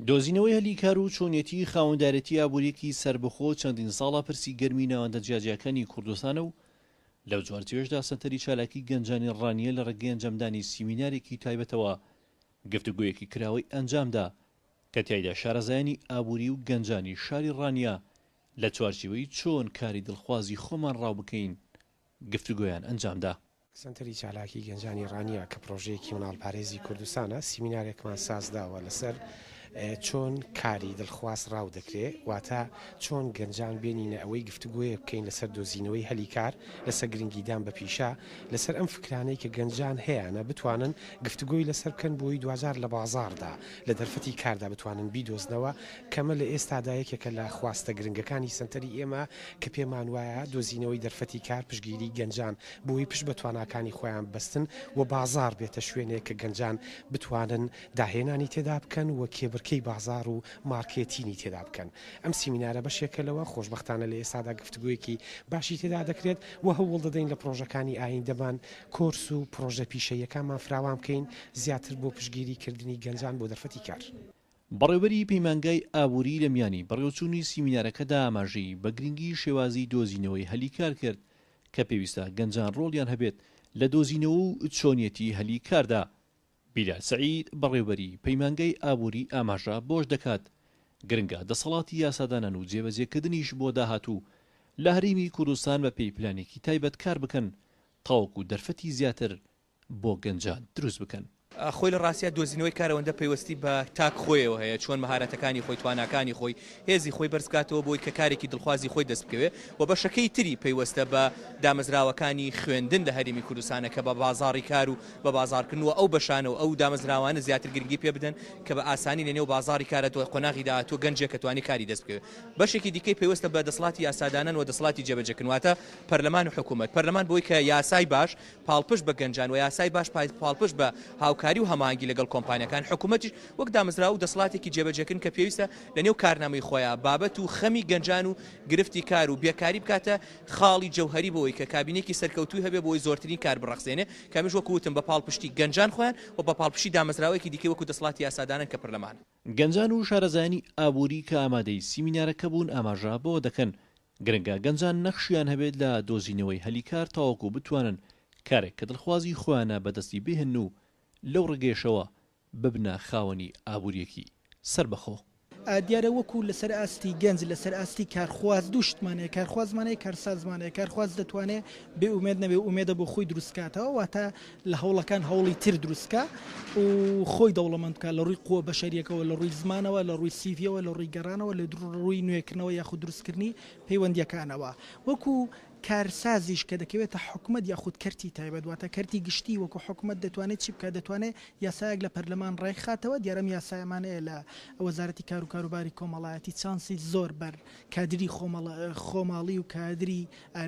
دۆزینەوەی هەلی کار و چۆنیەتیی خاوەندارێتی ئابوورییەکی سەربەخۆ چەندین ساڵە پرسی گەرمی ناوەندە جیاجیاکانی کوردستانە و لەو جۆرتیەشدا سەنتەری چالاکی گەنجانی ڕانیە لە ڕێگەی ئەنجامدانی سیمینارێکی تایبەتەوە گفتوگۆیەکی کراوەی ئەنجامدا کە تیایدا شارەزایانی ئابووری و گەنجانی شاری ڕانیە لە چوارچیوەی چۆن کاری دڵخوازی خۆمان ڕاوبکەین گفتوگۆیان ئەنجامدا. سەنتەری چالاکی گەنجانی ڕانیە کە پڕۆژەیەکی مناڵپارێزی کوردستانە، سیمینارێکمان سازداوە لەسەر چۆن کاری دڵخواز ڕاو دەکرێ، واتە چۆن گەنجان بێنینە ئەوەی گفتوگۆیەک بکەین لەسەر دۆزینەوەی هەلی کار، لەسەر گرنگیدان بە پیشە، لەسەر ئەم فکرانەی کە گەنجان هەیانە بتوانن گفتوگۆی لەسەر بکەن بۆی دواجار لە بازاڕدا، لە دەرفەتی کاردا بتوانن بیدۆزنەوە، کەمە لە ئێستادا یەکێکە لە خواستە گرنگەکانی سەنتەری ئێمە کە پێمان وایە دۆزینەوەی دەرفەتی کار پشتگیری گەنجان بۆی پشت بە تواناکانی خۆیان ببەستن و بازاڕ بێتە شوێنێک کە گەنجان بتوانن داهێنانی تێدا بکەن و کێبرکێی بازاڕ و مارکێتینی تێدا بکەن ئەم سیمینارە بەشێکە لەوە خۆشبەختانە لە ئێستادا گفتگۆیەکی باشی تێدا دەکرێت و هەوڵ دەدەین لە پرۆژەکانی ئایندەمان کۆرس و پرۆژە پیشەییەکانمان فراوان بکەین زیاتر بۆ پشتگیری کردنی گەنجان بۆ دەرفەتی کار. بەڕێوەبەری پەیمانگای ئابووری لە میانی بەڕێوەچوونی سیمینارەکەدا ئاماژەی بە گرنگی شێوازی دۆزینەوەی هەلی کار کرد کە پێویستە گەنجان ڕۆڵیان هەبێت لە دۆزینەوە و چۆنیەتی هەلی کاردا. بیلال سەعید، بەڕێوبەری پەیمانگای ئابووری ئاماژە بەوەش دەکات، گرنگە دەسەڵاتی یاسادانان و جێبەجێکردنیش بۆ داهاتوو لە هەرێمی کوردستان بەپێی پلانێکی تایبەت کار بکەن تاوەکو دەرفەتی زیاتر بۆ گەنجان دروست بکەن. خۆی لە ڕاستیا دۆزینەوەی کارەوەندە پەیوەستی بە تاک خۆیەوە هەیە، چۆن مەهارەتەکانی خۆی، تواناکانی خۆی، هێزی خۆی بەرز بکاتەوە بۆی کە کارێکی دڵخوازی خۆی دەست بکەوێ و بەشەکەی تری پەیوەستە بە دامەزراوەکانی خوێندن لە هەرێمی کوردستانە کە بە بازاڕی کار و بە بازاڕکردن و ئەو بەشانە و ئەو دامەزراوانە زیاتر گرنگی پێ بدەن کە بە ئاسانی لە نێو بازاڕی کارا دوای قۆناغی داهاتوو گەنجێک کە توانی کاری دەست بکەوێ. بەشێکی دیکەی پەیوەستە بە دەسڵاتی یاسادانان و دەسڵاتی جێبەجێکردن واتە پەرلەمان و حکوومەت. پەرلەمان بۆی کە یاسای باش پاڵپشت بە گەنجان و یاسای باش پاڵپشت بە هاوکاری و هەماهەنگی لەگەڵ کۆمپانیاکان، حکومەتیش وەک دامەزراوە و دەسڵاتێکی جێبەجێکردن کە پێویستە لەنێو کارنامەی خۆیا بابەت و خەمی گەنجان و گرفتی کار و بێکاری بکاتە خاڵی جەوهەری بەوەی کە کابینەیەکی سەرکەوتووی هەبێت بۆی زۆرترین کار بڕەخسێنێت کەمەش وەکو وتم بە پاڵپشتی گەنجان خۆیان و بە پاڵپشتی دامەزراوەیەکی دیکەی وەکو دەسڵاتی یاسادانان کە پەرلەمانە. گەنجان و شارەزایانی ئابووری کە ئامادەی سیمینارەکە بوون ئاماژە بەوە دەکەن، گرنگە گەنجان نەخشیان هەبێت لە دۆزینەوەی هەلی کار تاوەکو بتوانن کارێک کە دڵخوازی خۆیانە بەدەستی بهێنن و لەو ڕگەیەشەوە ببنە خاوەنی ئابوورییەکی سەربەخۆ. دیارە وەکو لەسەر ئاستی گەنج لەسەر ئاستی کارخواز دوو شتمان هەیە، کارخوازمان هەیە کارسازمان هەیە، کارخواز دەتوانێت بێ ئومێد نەبێت و ئومێدە بۆ خۆی دروستکاتەوە واتە، لە هەوڵەکان هەوڵی تر دروست بکا و خۆی دەوڵەمەند بکا لە ڕووی قووە بەشەریەکەوە لە ڕووی زمانەوە لە ڕووی سیڤیەوە لە ڕووی گەڕانەوە لە ڕووی نوێکردنەوە یاخود دروستکردنی پەیوەندیەکانەوە وەکو کارسازیش کە دەکەوێتە حکومەت یاخود کەرتی تایبەت واتە کەرتی گشتی وەکو حکومەت دەتوانێت چی بکات دەتوانێت یاسایەک لە پەرلەمان ڕێکخاتەوە دیارە ئەم یاسایەمانەیە لە وەزارەتی کار و کاروباری کۆمەڵایەتی چانسی زۆر بەر کادری خۆماڵی و کادری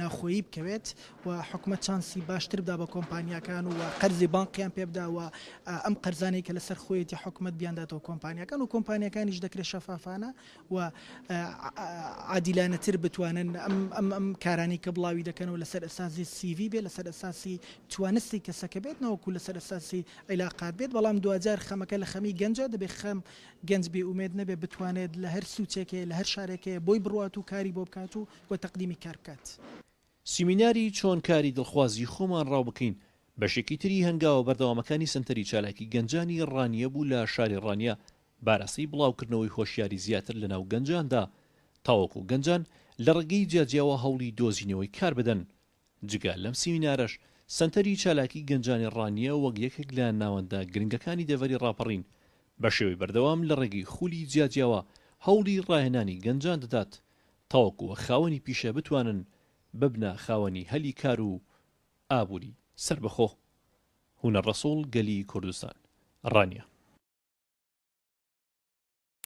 ناوخۆیی بکەوێت و حکومەت چانسی باشتر بدا بە کۆمپانیاکان و قەرزی بانقیان پێ بدا و ئەم قەرزانەی کە لەسەر خۆیەتی حکومەت بیانداتەوە کۆمپانیاکان و کۆمپانیاکانیش دەکرێت شەفافانە و عادیلانەتر بتوانن ئەم ئەم کارانی کە بڵاوی دەکەنەوە لەسەر ئەسازی سیڤی بێت لەسەر ئەساسی توانستی کەسەکە بێت نەوەکو لەسەر ئەساسی عیلاقات بێت بەڵام دواجار خەمەکە لە خەمی گەنجە دەبێت خەم گەنج بێ ئومێد نەبێت بتوانێت لە هەر سوچێکەیە لە هەر شارێکەیە بۆی بڕوات و کاری بۆ بکات و و تەقدیمی کار بکات. سیمیناری چۆن کاری دڵخوازی خۆمان ڕاو بکەین بەشێکی تری هەنگاوە بەردەوامەکانی سەنتەری چالاکی گەنجانی ڕانیە بوو لە شاری ڕانیە بارەسەی بڵاوکردنەوەی هۆشیاری زیاتر لە ناو گەنجاندا تاوەکو گەنجان لە ڕێگەی جیاجیاوە هەوڵی دۆزینەوەی کار بدەن جگە لەم سیمینارەش، سەنتەری چالاکی گەنجانی ڕانیە وەک یەکێک لە ناوەندە گرنگەکانی دەڤەری ڕاپەڕین، بە شێوەی بەردەوام لە ڕێگەی خولی جیاجیاوە هەوڵی ڕاهێنانی گەنجان دەدات تاوەکو خاوەنی پیشە بتوانن ببنە خاوەنی هەلی کار و ئابووری سەربەخۆ. هونەر ڕەسوڵ، گەلی کوردستان، ڕانیە.